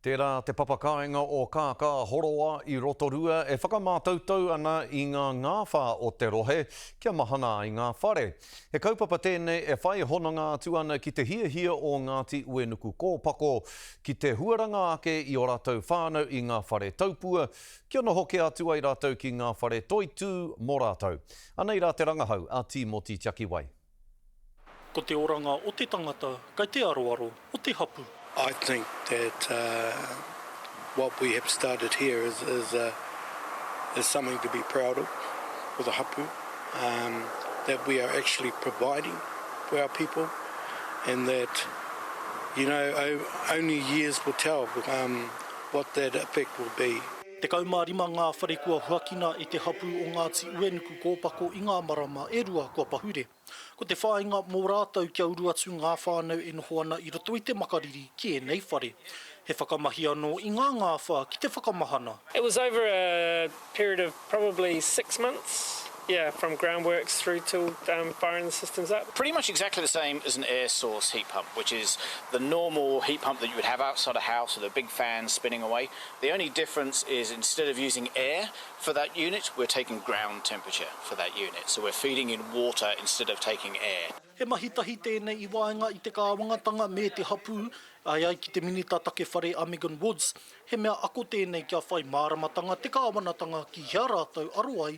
Tērā te papakāinga o Kākā Horoa i Rotorua e whakamātautau ana i ngā ngāwhā o te rohe kia mahana ai ngā whare. He kaupapa tēnei e whai hononga atu ana ki te hiahia o Ngāti Uenukukōpako ki te huaranga ake i ō rātou whānau i ngā whare taupua kia noho kē atu ai rātou ki ngā whare toitū mō rātou. Anei rā te rangahau a Tīmoti Tiakiwai. Ko te oranga o te tangata kei te aroaro o te hapu. I think that what we have started here is something to be proud of for the hapu, that we are actually providing for our people and that you know only years will tell what that effect will be. Tekau mā rima ngā whare kua huakina e te hapū o Ngāti Uenuku kōpako i ngā marama e rua kua pahure. Ko te whāinga mō rātou kia uru atu ngā whānau e noho ana i roto i te makariri ki ēnei whare. He whakamahi anō i ngā ngāwhā ki te whakamahana. It was over a period of probably six months, yeah, from ground works through to firing the systems up. Pretty much exactly the same as an air source heat pump, which is the normal heat pump that you would have outside a house with a big fan spinning away. The only difference is instead of using air for that unit, we're taking ground temperature for that unit, so we're feeding in water instead of taking air. He mahi tahi tēnei i waenga i te kāwangatanga me te hapū, āe ai ki te Minita Take Whare a Megan Woods, he mea ako tēnei kia whai māramatanga te kāwanatanga ki hea rātou aro ai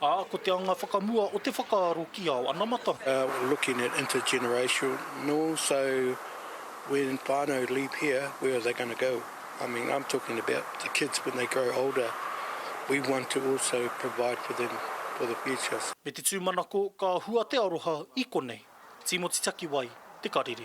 Ā, ko te anga whakamua o te whakaaro ki ao anamata. We're looking at intergenerational, so when whānau leave here, where are they going to go? I mean, I'm talking about the kids when they grow older, we want to also provide for them for the future. Me te tūmanako ka hua te aroha i konei. Tīmoti Takiwai, Te Karere.